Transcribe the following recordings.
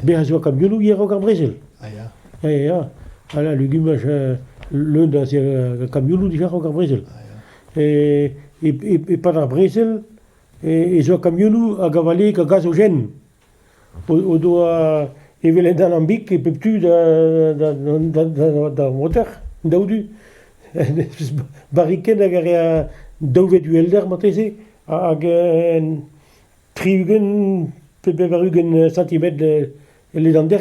Bezañ zo ka bioù a-raok ar brezel. Ah ya. Ya, ya. Voilà, legumaj leun da kamionoù dija raok ar brezel. E, e, e, e-pad ar brezel e, e zo kamionoù hag a vale ka gaz o jen. o doa evel un alambic e pep tu d'ar moter, daou-du. Barriken hag a rea daou ved uhelder marteze, hag tri-ugent pe bevar-ugent santimetr e ledander.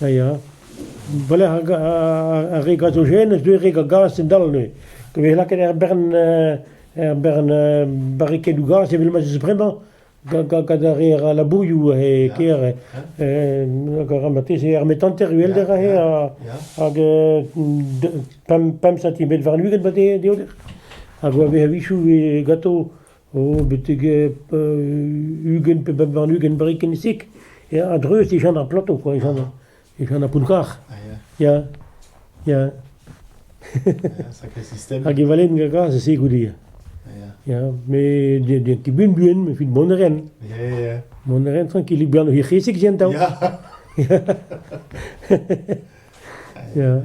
Ha ya, war-lerc'h ar re gazojenn ez deus re gaz a-dal neuze. Ket vez lakaet er bern er bern barrikedoù gaz evel ma 'z eus bremañ gant ar re a ra labourioù e kêr. Hag a ra marteze armet hanter uhelder aze hag pemp centimetr warn-ugent ma deoder. Hag a vez a-wechoù ganto oh betek ugent pe bep warn-ugent brik en e sik, ya a-dreuz e jan ar plato quoi, e jan ar, e jan ar pounkarr, ya, ya. Sacré système. Hag e valen gagas e se goude. Ya, me den ti ben buen, me fit mont ren. Ya, ya, ya. Mont ren tranquillik bihan o hirc'hesik jen tao. Ya. Ya.